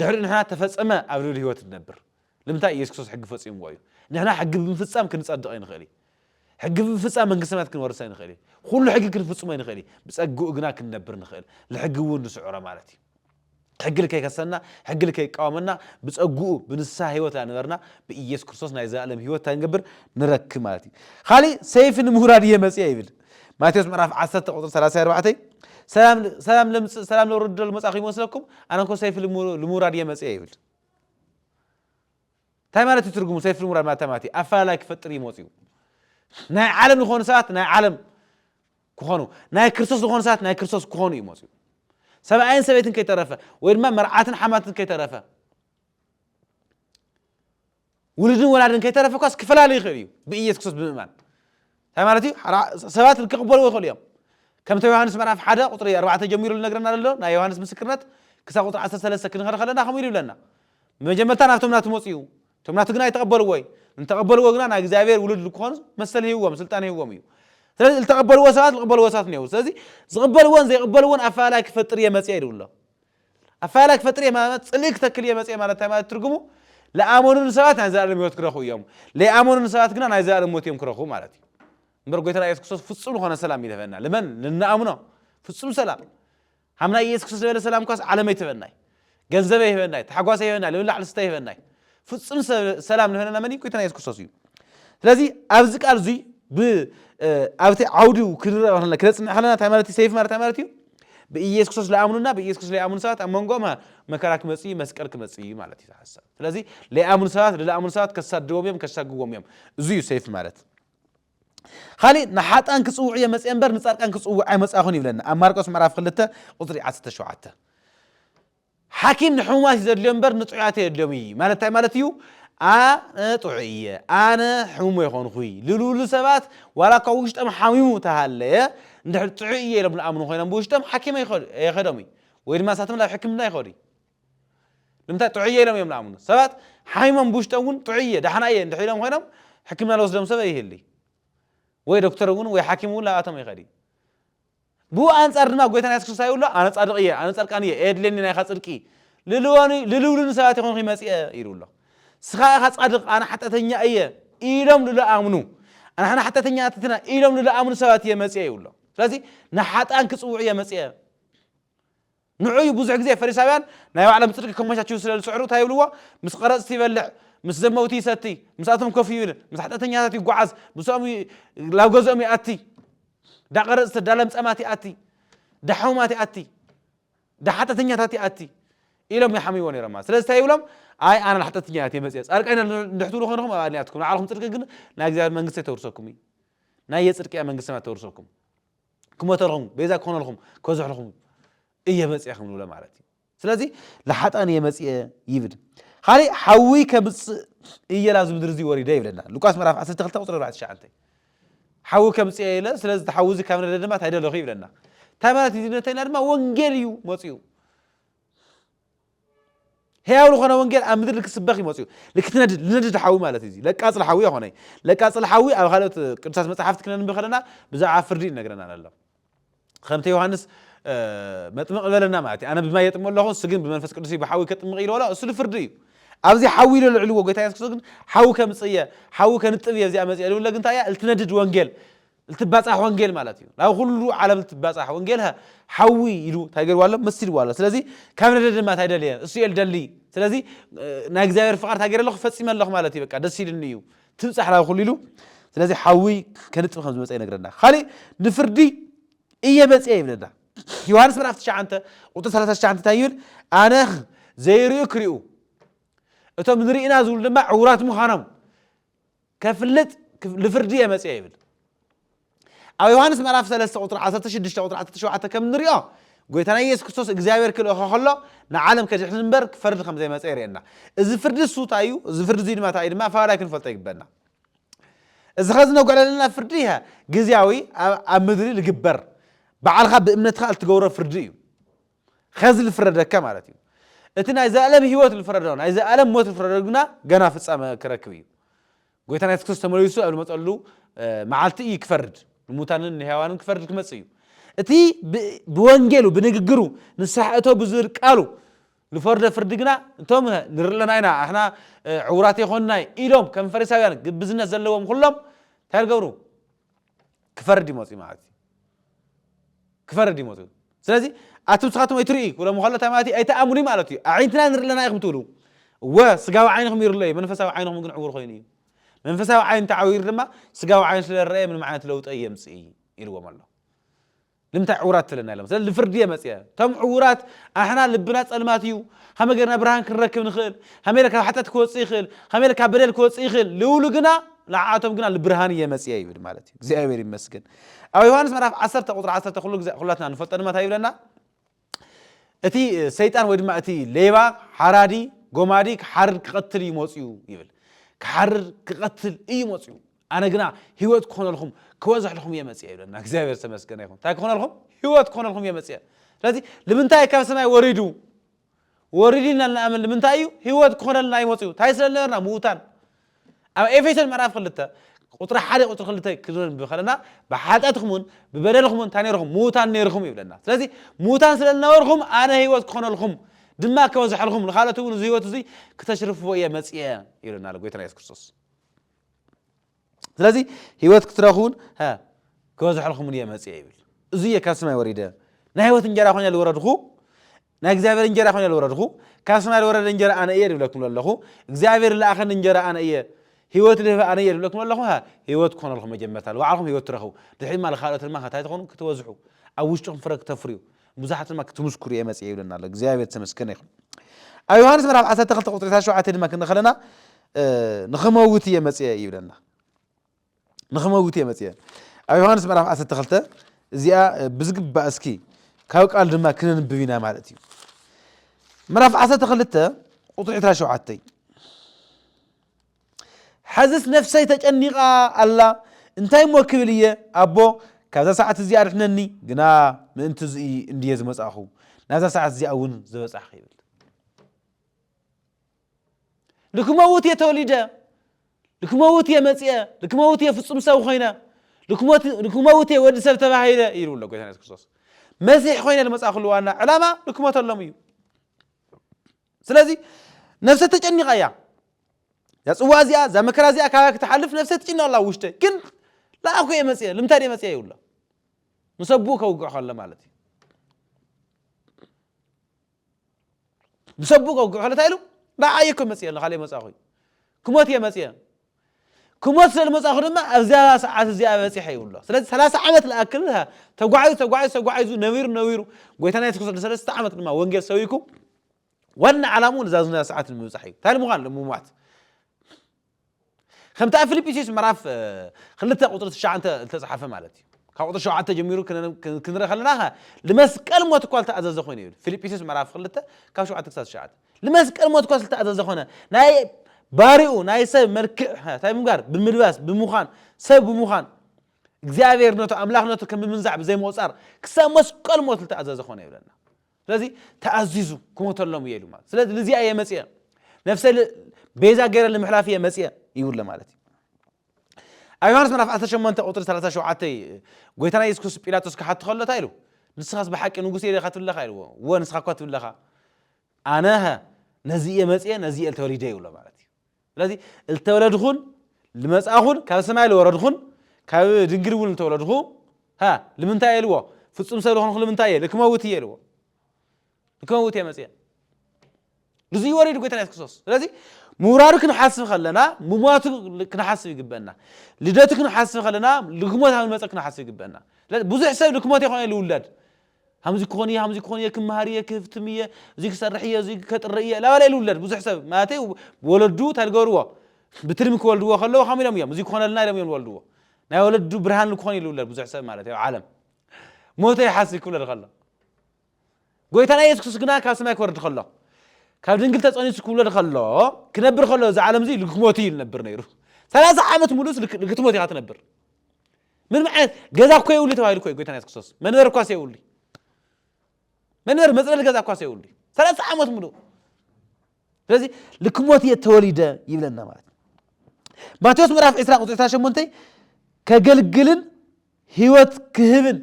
S1: ድሕሪ ንሕና ተፈጸመ ኣብ ልዕሊ ህይወት ንነብር ልምንታይ የሱስ ክርስቶስ ሕጊ ፈጺምዎ እዩ ንሕና ሕጊ ብምፍጻም ክንጸድቕ ኣይንኽእል እዩ ሕጊ ብምፍጻም መንግስቲ ሰማያት ክንወርስ ኣይንኽእል እዩ ኩሉ ሕጊ ክንፍጽሞ ኣይንኽእል እዩ ብጸግኡ ግና ክንነብር ንኽእል ንሕጊ እውን ንስዕሮ ማለት እዩ ሕጊ ልከይከሰና ሕጊ ልከይቃወመና ብጸግኡ ብንስሓ ህይወት ኣነበርና ብኢየሱስ ክርስቶስ ናይ ዘላለም ህይወት እንታይ ንገብር ንረክብ ማለት እዩ ካልእ ሰይፊ ንምውራድ እየ መጽአ ይብል ማቴዎስ ምዕራፍ 10 ቁጥሪ 34 ሰላም ለምጽእ ሰላም ለውርድ መጻእኹ ይመስለኩም ኣነ እኮ ሰይፊ ልምውራድ እየ መጽአ ይብል እንታይ ማለት እዩ ትርጉሙ ሰይፊ ልምውራድ ማለት ማለት እዩ ኣፈላላይ ክፈጥር እዩ መጽኡ ናይ ዓለም ዝኾኑ ሰባት ናይ ዓለም ክኾኑ፣ ናይ ክርስቶስ ዝኾኑ ሰባት ናይ ክርስቶስ ክኾኑ እዩ መጽኡ። ሰብኣይን ሰበይትን ከይተረፈ ወይ ድማ መርዓትን ሓማትን ከይተረፈ ውሉድን ወላድን ከይተረፈ እኳስ ክፈላለ ይኽእል እዩ ብኢየሱስ ክርስቶስ ብምእማን እንታይ ማለት እዩ ሰባት ክቕበልዎ ይኽእሉ እዮም ከምቲ ዮሃንስ ምዕራፍ ሓደ ቁፅሪ ኣርባዕተ ጀሚሩ ዝነግረና ዘሎ ናይ ዮሃንስ ምስክርነት ክሳብ ቁፅሪ ዓሰርተ ሰለስተ ክንኸደ ከለና ከምኡ ኢሉ ይብለና መጀመርታ ናብቶም ናቱ መፅኡ እቶም ናቱ ግና ኣይተቐበልዎ እዩ። እንተቐበልዎ ግና ናይ እግዚኣብሔር ውሉድ ልክኾኑ መሰል ሂብዎም፣ ስልጣን ሂብዎም እዩ። ስለዚ ልተቐበልዎ ሰባት ልቕበልዎ ሰባት እኔዉ። ስለዚ ዝቕበልዎን ዘይቕበልዎን ኣፈላላይ ክፈጥር እየ መጺኤ ኢሉ ኣሎ። ኣፈላላይ ክፈጥር እየ ማለት ጽልኢ ክተክል እየ መጺኤ ማለት እንታይ ማለት ትርጉሙ? ልኣመኑኒ ሰባት ናይ ዘለኣለም ህይወት ክረኽቡ እዮም። ለይኣመኑኒ ሰባት ግና ናይ ዘለኣለም ሞት እዮም ክረኽቡ ማለት እዩ። እምበር ጎይታና ኢየሱስ ክርስቶስ ፍጹም ልኾነ ሰላም ይህበና። ልመን ልንኣምኖ ፍጹም ሰላም ሓምላይ ኢየሱስ ክርስቶስ ዝበለ ሰላምኳስ ዓለመይ ትህበናይ ገንዘበይ ይህበናይ ታሕጓሰይ ይህበናይ ልብላዕ ልስተ ይህበናይ ፍጹም ሰላም ልህበና መን ጎይታና ኢየሱስ ክርስቶስ እዩ ስለዚ ኣብዚ ቃል እዙይ ኣብቲ ዓውዲ ክነፅንዕ ከለና እንታይ ማለት እዩ ሰይፍ ማለት እንታይ ማለት እዩ ብኢየሱስ ክርስቶስ ለኣምኑና ብኢየሱስ ክርስቶስ ለይኣምኑ ሰባት ኣብ መንጎም መከራ ክመፅ እዩ መስቀል ክመፅ እዩ ማለት እዩ ሓሳብ ስለዚ ለይኣምኑ ሰባት ለኣምኑ ሰባት ከሳድዎም እዮም ከሳግዎም እዮም እዚ እዩ ሰይፍ ማለት ኻሊእ ንሓጥኣን ክጽውዕ እየ መጽኤ እምበር ንጻድቃን ክጽውዕ ኣይመጻኹን ይብለና ኣብ ማርቆስ ምዕራፍ ክልተ ቁጽሪ ዓሰርተ ሸውዓተ ሓኪም ንሕሙማት እዩ ዘድልዮ እምበር ንጥዑያት የድልዮም እዩ ማለት እንታይ ማለት እዩ ኣነ ጥዑይ እየ ኣነ ሕሙም ኣይኮንኹይ ልልብሉ ሰባት ዋላ እኳ ውሽጦም ሓሚሙ ተሃለየ እንድሕር ጥዑይ እየ ኢሎም ዝኣምኑ ኮይኖም ብውሽጦም ሓኪም ኣይኸዶም እዩ ወይ ድማ ንሳቶም ናብ ሕክምና ይኸዱ እዩ ንምንታይ ጥዑይ እየ ኢሎም እዮም ዝኣምኑ። ሰባት ሓሚሞም ብውሽጦም እውን ጥዑይ እየ፣ ደሓና እየ እንድሕር ኢሎም ኮይኖም ሕክምና ዝወስዶም ሰብ ኣይህልይ። ወይ ዶክተር እውን ወይ ሓኪም እውን ላብኣቶም ኣይኸድይ። ብኡ ኣንጻር ድማ ጎይታና የሱስ ክርስቶስ ይብሎ ኣነ ጻድቕ እየ፣ ኣነ ጻድቃን እየ፣ ኤየድልየኒ ናይኻ ጽድቂ ልልወኒ ልልብሉኒ ሰባት ይኾንኹ መጺአ ኢሉ ኣሎ። ስኻ ኢኻ ጻድቕ ኣነ ሓጢኣተኛ እየ ኢሎም ልልኣምኑ ኣንሓና ሓጢኣተኛታት ኢና ኢሎም ልልኣምኑ ሰባት እየ መጺአ ይብሎ። ስለዚ ንሓጥኣን ክጽውዕ እየ መጺአ። ንዕኡ እዩ ብዙሕ ግዜ ፈሪሳውያን ናይ ባዕሎም ጽድቂ ከመቻችዉ ስለ ዝጽዕሩ እንታይ ይብልዎ? ምስ ቐረጽቲ ይበልዕ፣ ምስ ዘመውቲ ይሰቲ፣ ምስኣቶም ኮፍ ይብል፣ ምስ ሓጢኣተኛታት ይጓዓዝ፣ ምስኦም ይ ላብ ገዝኦም ይኣቲ፣ ዳ ቐረጽቲ፣ ዳ ለምጻማት ይኣቲ፣ ዳ ሕሙማት ይኣቲ፣ ዳ ሓጢኣተኛታት ይኣቲ ኢሎም ይሓምይዎ ነይሮም ማለት። ስለዚ እንታይ ይብሎም? ኣይ ኣነ ንሓጢኣተኛታት እየ መጺኤ፣ ጻድቃን ኢና እንድሕር ትብሉ ኮይንኩም ኣብ ኣድንያትኩም፣ ናይ ባዕልኹም ጽድቂ ግን ናይ እግዚኣብሔር መንግስቲ ኣይተውርሰኩም እዩ። ናይ የጽድቅያ መንግስቲ ሰማያት ተውርሰኩም። ክሞተልኹም ቤዛ ክኾነልኹም ከዝሕልኹም እየ መፅኤ ከም ንብሎ ማለት እዩ ስለዚ ንሓጣን እየ መፅኤ ይብል ካሊእ ሓዊ ከምፅእ እየ ላብዚ ምድሪ እዚ ወሪደ ይብለና ሉቃስ ምዕራፍ 12 ቁፅሪ 49 ሓዊ ከምፅእ እየ ኢለ ስለዚ ሓዊ እዚ ካብ ነደ ድማ ታይደለኹ ይብለና እንታይ ማለት እዩ ነተና ድማ ወንጌል እዩ መፅኡ ሕያው ልኾነ ወንጌል ኣብ ምድሪ ልክስበኽ እዩ መፅኡ ልክትነድድ ልነድድ ሓዊ ማለት እዩ ለቃፅል ሓዊ ኣይኾነይ ለቃፅል ሓዊ ኣብ ካልኦት ቅዱሳት መፅሓፍቲ ክነንብ ከለና ብዛዕባ ፍርዲ ይነግረና ኣሎ ከምቲ ዮሃንስ መጥምቕ በለና ማለት እዩ ኣነ ብማይ የጥምቕ ኣለኹ እሱ ግን ብመንፈስ ቅዱስ እዩ ብሓዊ ከጥምቕ ኢልዎ ኣሎ እሱ ልፍርዲ እዩ ኣብዚ ሓዊ ኢሎ ልዕልዎ ጎይታ የሱስ ክርስቶስ ግን ሓዊ ከምፅእ እየ ሓዊ ከንጥብ እየ እዚኣ መፅእ ልብለ ግን እንታይ እያ ልትነድድ ወንጌል ልትባጻሕ ወንጌል ማለት እዩ ናብ ኩሉ ዓለም ልትባጻሕ ወንጌል ሃ ሓዊ ኢሉ ታይ ገርዋ ኣሎ መሲልዋ ኣሎ ስለዚ ካብ ነደ ድማ ታይ ደልየ እሱ እየ ልደሊ ስለዚ ናይ እግዚኣብሔር ፍቃድ ታይ ገረ ኣለኹ ፈጺመ ኣለኹ ማለት እዩ በቃ ደስ ኢልኒ እዩ ትብጻሕ ናብ ኩሉ ኢሉ ስለዚ ሓዊ ከንጽብ ከም ዝመጸ ይነግረና ካሊእ ንፍርዲ እየ መጽየ ይብለና ዮሃንስ ምዕራፍ 9 ቁጥሪ 39 እንታይ ይብል ኣነ ዘይርእዩ ክሪኡ እቶም ንርእና ዝብሉ ድማ ዕውራት ምዃኖም ከፍልጥ ልፍርዲ እየ መጺኤ ይብል ኣብ ዮሃንስ ምዕራፍ 3 ቁጥሪ 16 ቁጥሪ 17 ከም ንሪኦ ጎይታና ኢየሱስ ክርስቶስ እግዚኣብሔር ክልእኸ ከሎ ንዓለም ከድሕን እምበር ክፈርድ ከም ዘይመጸ የርእየና እዚ ፍርዲ እሱ እንታይ እዩ እዚ ፍርዲ እዙይ ድማ እንታይ እዩ ድማ ፈላላይ ክንፈልጦ ይግበና እዚ ኸዚ ነጉዕ ዘለና ፍርዲ እያ ግዜያዊ ኣብ ምድሪ ዝግበር ባዕልኻ ብእምነትካ እትገብሮ ፍርዲ እዩ ኸዚ ልፍረደካ ማለት እዩ። እቲ ናይ ዘልኣለም ህይወት ልፍረዶ፣ ናይ ዘልኣለም ሞት ልፍረዶ ግና ገና ፍጻመ ክረክብ እዩ። ጎይታና የሱስ ክርስቶስ ተመሊሱ ኣብ ልመጸሉ መዓልቲ እዩ ክፈርድ፣ ንሙታንን ንሕያዋንን ክፈርድ ክመጽእ እዩ። እቲ ብወንጌሉ፣ ብንግግሩ፣ ንስሓ እቶ ብዝብል ቃሉ ልፈርዶ ፍርዲ ግና እቶም ንርኢ ኣለና ኢና፣ ኣሕና ዕውራት ኣይኮንናይ ኢሎም ከም ፈሪሳውያን ግብዝነት ዘለዎም ኹሎም እንታይ ልገብሩ? ክፈርድ እዩ መፅኡ ማለት እዩ ክፈርድ እዩ መፅኡ ስለዚ ኣቲ ንስኻትኩም ኣይትርእዩ ክብሎም ከሎ እንታይ ማለት እዩ ኣይትኣምኑ ማለት እዩ ኣዒንትና ንርኢ ኣለና ኢኹም ትብሉ እወ ስጋዊ ዓይንኹም ይርሎ እዩ መንፈሳዊ ዓይንኹም ግን ዕውር ኮይኑ እዩ መንፈሳዊ ዓይን ተዓዊሩ ድማ ስጋዊ ዓይን ስለ ዝረአየ ምንም ዓይነት ለውጢ የምፅእ ኢልዎም ኣሎ ልምታይ ዕውራት ትብለና ኢሎም ስለዚ ልፍርዲ እየ መጽየ ቶም ዕውራት ኣሕና ልብና ጸልማት እዩ ከመይ ገርና ብርሃን ክንረክብ ንክእል ከመይ ኢለ ካብ ሓጢኣት ክወጽእ ይክእል ከመይ ኢለ ካብ በደል ክወጽእ ይክእል ልብሉ ግና ንዓኣቶም ግና ልብርሃን እየ መጽየ ይብል ማለት እዩ እግዚኣብሔር ይመስገን ኣብ ዮሃንስ ምዕራፍ ዓሰርተ ቁጽሪ ዓሰርተ ኩሉ ግዜ ኩላትና ንፈልጦ ድማ እንታይ ይብለና እቲ ሰይጣን ወይ ድማ እቲ ሌባ ሓራዲ ጎማዲ ክሓርድ ክቐትል እዩ መፅኡ ይብል ክሓርድ ክቐትል እዩ መፅኡ ኣነ ግና ህይወት ክኾነልኩም ክበዝሕልኩም እየ መፅአ ይብለና እግዚኣብሔር ዝተመስገነ ይኹን እንታይ ክኾነልኩም ህይወት ክኾነልኩም እየ መፅአ ስለዚ ንምንታይ ካብ ሰማይ ወሪዱ ወሪዱ ኢና ንኣምን ንምንታይ እዩ ህይወት ክኾነልና እዩ መፅኡ እንታይ ስለ ዝነበርና ምዉታን ኣብ ኤፌሶን ምዕራፍ ክልተ ቁጽሪ ሓደ ቁጽሪ ክልተ ክንንብብ ከለና ብሓጢኣትኩምን ብበደልኩምን እንታይ ነርኹም ምዉታን ነርኹም ይብለና ስለዚ ምዉታን ስለ ዝነበርኩም ኣነ ህይወት ክኾነልኩም ድማ ከበዝሐልኩም ንኻልኦት እውን እዚ ህይወት እዚ ክተሽርፍዎ እየ መጽየ ይብለና ኣሎ ጎይታና የሱስ ክርስቶስ ስለዚ ህይወት ክትረኽቡን ክበዝሐልኩምን እየ መጽየ ይብል እዚ እየ ካብ ሰማይ ወሪደ ናይ ህይወት እንጀራ ኮይነ ዝወረድኩ ናይ እግዚኣብሔር እንጀራ ኮይነ ልወረድኹ ካብ ሰማይ ልወረደ እንጀራ ኣነ እየ ልብለኩም ለለኹ እግዚኣብሔር ልኣኸኒ እንጀራ ኣነ እየ ህይወት ልህብ ኣነ እየ ልብለኩም ለለኹ ሃ ህይወት ክኾነልኹም መጀመርታ ልባዕልኹም ህይወት ትረኽቡ ድሕሪ ድማ ልኻልኦት ድማ ከታይ ትኾኑ ክትበዝሑ ኣብ ውሽጥኹም ፍረ ክተፍርዩ ንብዙሓት ድማ ክትምስክሩ እየ መፅኤ ይብለና ኣሎ እግዚኣብሔር ዝተመስገነ ይኹን ኣብ ዮሃንስ ምዕራፍ 12 ቁፅሪ 17 ድማ ክንርኢ ከለና ንኽመውት እየ መፅኤ ይብለና ንኽመውት እየ መጺኤ። ኣብ ዮሃንስ ምዕራፍ ዓሰርተ ክልተ እዚኣ ብዝግባእ እስኪ ካብ ቃል ድማ ክነንብብ ኢና ማለት እዩ። ምዕራፍ ዓሰርተ ክልተ ቁጥሪ ዕስራ ሸውዓተ ሐዝስ ነፍሰይ ተጨኒቓ ኣላ እንታይ እሞ ክብል እየ ኣቦ ካብዛ ሰዓት እዚኣ ኣድሕነኒ ግና ምእንቲ እዙ እንድየ ዝመጻእኹ ናብዛ ሰዓት እዚኣ እውን ዝበጻሕኹ ይብል። ልክመውት እየ ተወሊደ፣ ልክመውት እየ መጺኤ፣ ልክመውት እየ ፍጹም ሰብ ኮይነ፣ ልክመውት እየ ወዲ ሰብ ተባሂለ ይብሉ ኣሎ ጎይታና የሱስ ክርስቶስ። መሲሕ ኮይነ ዝመጻእኩሉ ዋና ዕላማ ልክሞተሎም እዩ። ስለዚ ነፍሰ ተጨኒቓ እያ እዛ ጽዋ እዚኣ እዛ መከራ እዚኣ ካባይ ክትሓልፍ ነፍሰ ትጭነቕ ኣላ ውሽጠ ግን ለኣኩ እየ መጽኤ ልምንታይ እየ መጽኤ ይብሎ ምስ ኣቡኡ ከውግዕ ከሎ ማለት እዩ ምስ ኣቡኡ ከውግዕ ከሎ እንታይ ኢሉ? ንዓይ እየ እኮ መጺኤ ንኻልእ ኣይመጻእኹይ። ክሞት እየ መጺኤ። ክሞት ስለ ዝመጻእኹ ድማ ኣብዛ ሰዓት እዚኣ በጺሐ ይብሎ። ስለዚ ሰላሳ ዓመት ልኣክል ተጓዒዙ ተጓዒዙ ተጓዒዙ ነቢሩ ነቢሩ ጎይታና የሱስ ክርስቶስ ንሰለስተ ዓመት ድማ ወንጌል ሰቢኩ ዋና ዓላምኡ ንዛ ዝና ሰዓት ንምብጻሕ እዩ። እንታይ ንምዃን? ንምሟት። ከምቲ ኣብ ፊልጵስዩስ ምዕራፍ ክልተ ቁጽሪ ትሽዓተ ዝተጻሕፈ ማለት እዩ። ካብ ቁጽሪ ሸውዓተ ጀሚሩ ክንርኢ ከለና ከ ልመስቀል ሞት እኳ ዝተኣዘዘ ኮይኑ ይብል ፊልጵስዩስ ምዕራፍ ክልተ ካብ ሸውዓተ ክሳብ ትሽዓተ ልመስቀል ሞት እኳ ዝተኣዘዘ ኮነ ናይ ባሪኡ ናይ ሰብ መልክዕ እንታይ ብምጋር ብምልባስ ብምዃን ሰብ ብምዃን እግዚኣብሔር ነቱ ኣምላኽነቱ ከም ምምንዛዕ ብዘይምቑጻር ክሳብ መስቀል ሞት ዝተኣዘዘ ኮነ ይብለና ስለዚ ተኣዚዙ ክሞተሎም እየ ኢሉ ማለት ስለዚ ልዚኣ እየ መፅአ ነፍሰ ቤዛ ገይረ ንምሕላፍ እየ መፅአ ይብሎ ማለት እዩ ኣብ ዮሃንስ ምዕራፍ 18 ቁፅሪ 37 ጎይታና የሱስ ክርስቶስ ጲላጦስ ክሓቱ ከሎ እንታይ ኢሉ ንስኻስ ብሓቂ ንጉስ እየ ዲኻ ትብለኻ ኢልዎ እወ ንስኻ እኳ ትብለኻ ኣነኸ ነዚ እየ መፅአ ነዚ እየ ተወሊደ ይብሎ ማለት እዩ ስለዚ ልተወለድኹን ልመጻእኹን ካብ ሰማይ ልወረድኹን ካብ ድንግል እውን ልተወለድኹ ሃ ልምንታይ እየ ልዎ ፍጹም ሰብ ልኾንኹ ልምንታይ እየ ልክመውት እየ ልዎ ልክመውት እየ መጽየ ንዙይ ወሪዱ ጎይታ ኢየሱስ ክርስቶስ ስለዚ ምውራዱ ክንሓስብ ከለና ምሟቱ ክንሓስብ ይግበና ልደቱ ክንሓስብ ከለና ልክሞት ኣብ ንመፀ ክንሓስብ ይግበና ብዙሕ ሰብ ልክሞት የኾነ ልውለድ ሃምዚ ክኾን እየ ሃምዚ ክኾን እየ ክመሃር እየ ክህፍትም እየ እዚ ክሰርሕ እየ እዚ ከጥሪ እየ ላባለ ልውለድ ብዙሕ ሰብ ማለተይ ወለዱ እንታይ ዝገብርዎ ብትልሚ ክወልድዎ ከለዉ ከም ኢሎም እዮም እዚ ክኾነልና ኢሎም እዮም ዝወልድዎ ናይ ወለዱ ብርሃን ንክኾን እዩ ዝውለድ ብዙሕ ሰብ ማለት እዩ ኣብ ዓለም ሞተ ይሓስብ ክብለድ ከሎ ጎይታና የሱስ ክርስቶስ ግና ካብ ሰማይ ክወርድ ከሎ ካብ ድንግል ተጸኒሱ ክውለድ ከሎ ክነብር ከሎ እዚ ዓለም እዚ ልክሞት እዩ ዝነብር ነይሩ ሰላሳ ዓመት ሙሉእስ ልክትሞት ኢኻ ትነብር ምንም ዓይነት ገዛ እኮ የብሉ ተባሂሉ እኮ ጎይታና የሱስ ክርስቶስ መንበር እኳ የብሉ መንበር መፅለሊ ገዛ እኳ የብሉ ሰላሳ ዓመት ሙሉ ስለዚ ልክ ሞት እየ ተወሊደ ይብለና ማለት ማቴዎስ ምዕራፍ 20 ቁፅሪ 28 ከገልግልን ህይወት ክህብን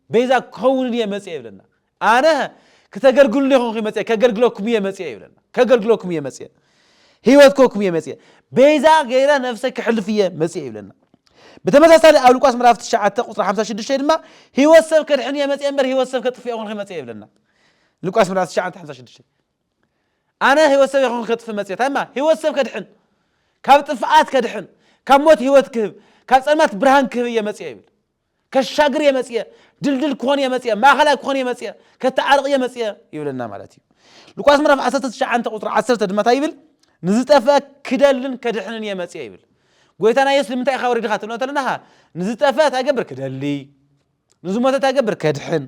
S1: ቤዛ ክኸውንን እየ መፅእ ይብለና ኣነ ክተገልግሉኒ ኢኹም ኺም መጺኤ፣ ከገልግለኩም እየ መጺኤ ይብለና። ከገልግለኩም እየ መጺኤ፣ ህይወት ክህበኩም እየ መጺኤ፣ ቤዛ ገይረ ነፍሰይ ከሕልፍ እየ መጺኤ ይብለና። ብተመሳሳሊ ኣብ ሉቃስ ምዕራፍ ትሽዓተ ቁጽሪ ሓምሳ ሽዱሽተ ድማ ህይወት ሰብ ከድሕን እየ መጺኤ እምበር ህይወት ሰብ ከጥፍእ ኣይኮንኩን መጺኤ ይብለና። ሉቃስ ምዕራፍ ትሽዓተ ሓምሳ ሽዱሽተ ኣነ ህይወት ሰብ ኣይኮንኩን ከጥፍእ መጺኤ እንታይ እማ ህይወት ሰብ ከድሕን ካብ ጥፍኣት ከድሕን ካብ ሞት ህይወት ክህብ ካብ ጸልማት ብርሃን ክህብ እየ መጺኤ ይብል። ከሻግር እየ መፅየ፣ ድልድል ክኾን እየ መፅየ፣ ማእኸላይ ክኾን እየ መፅየ፣ ከተዓርቕ እየ መፅየ ይብለና ማለት እዩ። ሉቃስ ምዕራፍ ዓሰርተ ትሽዓተ ቁፅሪ ዓሰርተ ድማ እንታይ ይብል? ንዝጠፍአ ክደልን ከድሕንን እየ መፅየ ይብል። ጎይታና ኢየሱስ ንምንታይ ኢኻ ወሪድኻ ትብሎ እንተለናኻ ንዝጠፍአ እንታይ ገብር ክደሊ ንዝሞተ እንታይ ገብር ከድሕን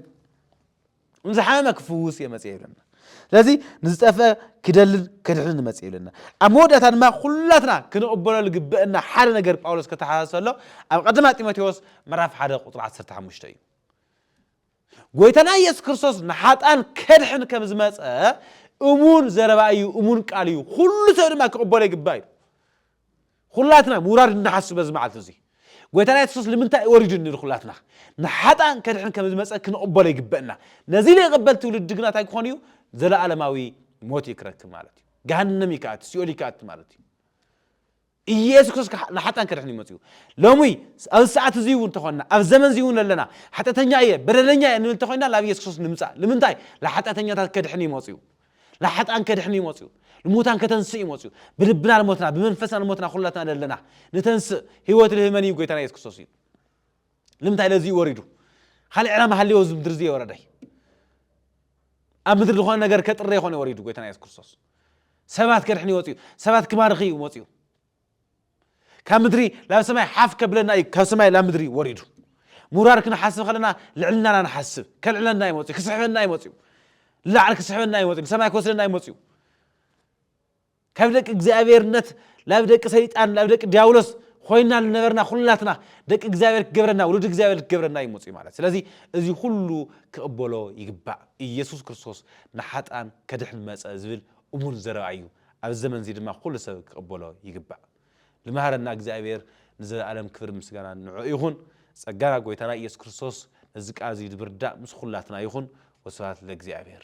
S1: ንዝሓመመ ክፍውስ እየ መፅኤ ይብለና ስለዚ ንዝጠፍአ ክደልን ከድሕንን መፅእ ይብለና ኣብ መወዳእታ ድማ ኩላትና ክንቕበሎ ዝግበአና ሓደ ነገር ጳውሎስ ከተሓሳስብ ኣሎ ኣብ ቀደማ ጢሞቴዎስ ምዕራፍ ሓደ ቁፅሪ 15 እዩ ጎይታና ኢየሱስ ክርስቶስ ንሓጣን ከድሕን ከም ዝመፀ እሙን ዘረባ እዩ እሙን ቃል እዩ ኩሉ ሰብ ድማ ክቕበሎ ይግባእ እዩ ኹላትና ምውራድ እንሓስብ በዚ መዓልቲ እዙይ ጎይታና የሱስ ንምንታይ እዩ ወሪዱ እንብል ኹላትና ንሓጣን ከድሕን ከም ዝመፀ ክንቕበሎ ይግበእና ነዚ ዘይቕበል ትውልዲ ግና እንታይ ክኾን እዩ ዘለኣለማዊ ሞት እዩ ክረክብ ማለት እዩ ገሃነም እዩ ክኣቲ ሲኦል እዩ ክኣቲ ማለት እዩ ኢየሱስ ክርስቶስ ንሓጣን ከድሕን ይመፅኡ ሎሚ ኣብ ሰዓት እዚ እውን ተኾንና ኣብ ዘመን እዚ እውን ኣለና ሓጢኣተኛ እየ በደለኛ እየ ንብል ተኾይና ናብ ኢየሱስ ክርስቶስ ንምፃእ ንምንታይ ንሓጢኣተኛታት ከድሕን ይመፅኡ ልሓጥኣን ከድሕን እዩ መጽኡ ልሙታን ከተንስእ እዩ መጽኡ ብልብና ልሞትና ብመንፈስና ልሞትና ኩላትና ደለና ንተንስእ ህይወት ልህብ መን እዩ ጎይታና የሱስ ክርስቶስ እዩ ልምንታይ ለዚ እዩ ወሪዱ ካልእ ዕላማ ሃልዮ እዚ ምድሪ እዚ የወረደይ ኣብ ምድሪ ዝኾነ ነገር ከጥረ ይኾነ ወሪዱ ጎይታና የሱስ ክርስቶስ ሰባት ከድሕን ይወፅኡ ሰባት ክባርኽ እዩ መፅኡ ካብ ምድሪ ላብ ሰማይ ሓፍ ከብለና እዩ ካብ ሰማይ ላብ ምድሪ ወሪዱ ምውራድ ክንሓስብ ከለና ልዕልናና ንሓስብ ከልዕለና እዩ መፅኡ ክስሕበና እዩ መፅኡ ንላዕሊ ክስሕበና እዩ መፅኡ ንሰማይ ክወስደና እዩ መፅኡ ካብ ደቂ እግዚኣብሔርነት ላብ ደቂ ሰይጣን ላብ ደቂ ዲያብሎስ ኮይና ዝነበርና ኩላትና ደቂ እግዚኣብሔር ክገብረና ውሉድ እግዚኣብሔር ክገብረና እዩ መፅኡ ማለት ስለዚ እዚ ኩሉ ክቕበሎ ይግባእ ኢየሱስ ክርስቶስ ንሓጣን ከድሕን መፀ ዝብል እሙን ዘረባ እዩ ኣብዚ ዘመን እዚ ድማ ኩሉ ሰብ ክቅበሎ ይግባእ ልማሃረና እግዚኣብሔር ንዘለኣለም ክብርን ምስጋናን ንዑ ይኹን ጸጋና ጎይታና ኢየሱስ ክርስቶስ ነዚ ቃል እዚ ድብርዳእ ምስ ኹላትና ይኹን ወስብሃት ለእግዚኣብሔር።